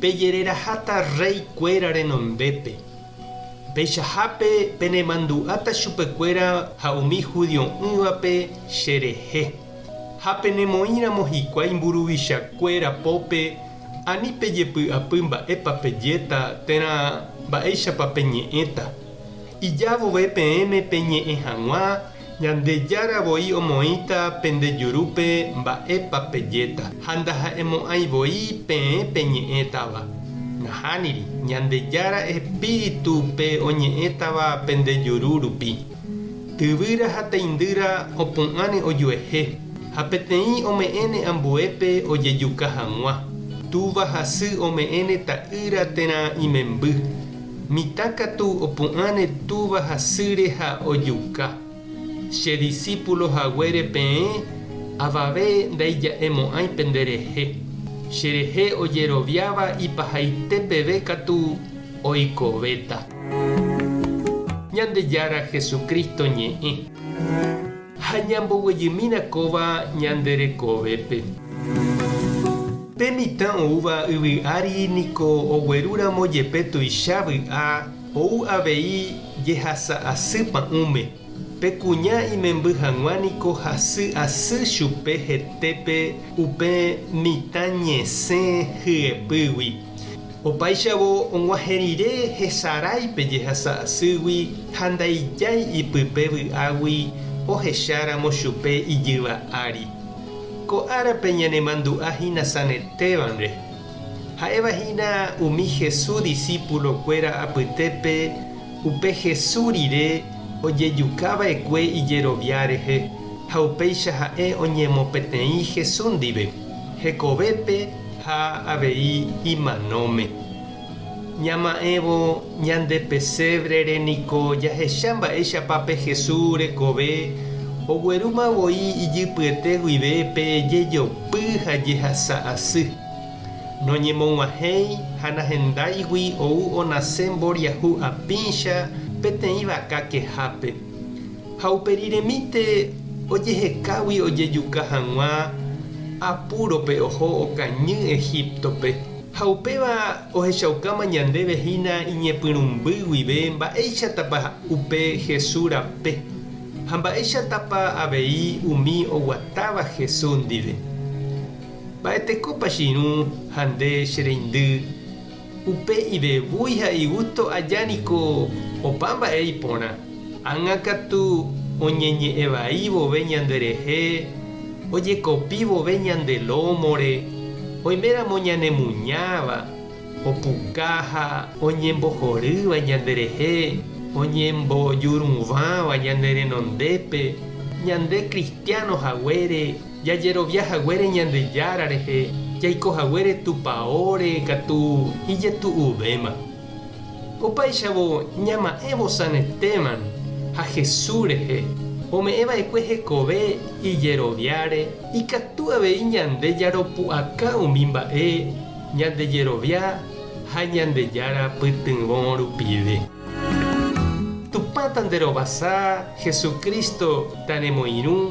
Pejereraháta rréi kuéra renombépe, peichahápe penemandu'áta chupekuéra ha umi judio'ỹvape che rehe, ha penemoĩramo hikuái mburuvicha kuéra pópe, ani pejepy'apy mba'épa pejéta térã mba'éichapa peñe'ẽta. Ija vove peẽme peñe'ẽ hag̃ua Ñandejára voi omoĩta pende jurúpe mba'épa pejéta, ha ndaha'emo'ãi voi peẽ peñe'ẽtava. Nahániri, Ñandejára Espíritu pe oñe'ẽtava pende juru rupi. Tyvýra ha teindýra opu'ãne ojuehe, ha peteĩ ome'ẽne ambuépe ojejuka hag̃ua. Túva ha sy ome'ẽne ta'ýra térã imemby. Mitã katu opu'ãre túva hasýre ha ojuka. Che disípulo haguére peẽ avave ndaija'emo'ãi penderehe. Cherehe ojeroviáva ipahaite peve katu oikovéta. Ñandejára Jesucristo ñe'ẽ. Ha ñamboguejymína kóva ñande rekovépe. Pe mitã oúva yvy ári niko oguerúramo jepe tuicha vy'a ou avei jehasa asy pa'ũme, pe kuña imemby hag̃ua niko hasy asy chupe hetépe upe mitã ñesẽ hyepýgui. Opáichavo og̃uahẽ rire hesarái pe jehasa asýgui ha ndaijái ipype vy'águi ohecháramo chupe ijyva ári. Ko árape ñanemandu'a hína sanetévanre. Ha'éva hína umi Jesús disípulo kuéra apytépe upe Jesús rire ojejuka va'ekue ijerovia rehe ha upéicha ha'e oñemopeteĩ Jesús ndive hekovépe Ha avei imanóme. Ñama'ẽvo ñande pesévrere niko jahecha mba'éichapa pe Jesús rekove oguerúma voi ijypyete guive pe jejopy ha jehasa asy. Noñemog̃uahẽi ha nahendáigui ou onase mboriahu apĩcha peteĩ vaka kehápe. ha upe riremíte ojehekágui ojejuka hag̃ua apúrope oho okañy Egíptope, ha upéva ohechaukáma ñandéve hína iñepyrũmby guive mba'éichatapa upe Jesús rape, ha mba'éichatapa avei umi oguatáva Jesús ndive. Mba'etekópa che irũ ha nde che reindy? Upe ivevúi ha igusto aja niko opa mba'e iporã. Ág̃a katu oñeñe'ẽ vai vove ñande rehe, ojekopi vove ñande lómore, oiméramo ñanemuñáva, opuka ha oñembohorýva ñande rehe, oñembojuruvãva ñane renondépe, ñande kristiáno haguére. Jajerovia haguére Ñandejára rehe, jaiko haguére Tupaóre katu ijetu'uvéma. Opáichavo ñama'ẽ vosanetéman ha Jesús rehe ome'ẽ va'ekue hekove ijeroviáre, ikatu avei ñande jaropu'aka umi mba'e Ñandejerovia ha Ñandejára pytyvõ rupive. Tupã tanderovasa, Jesucristo tanemoirũ,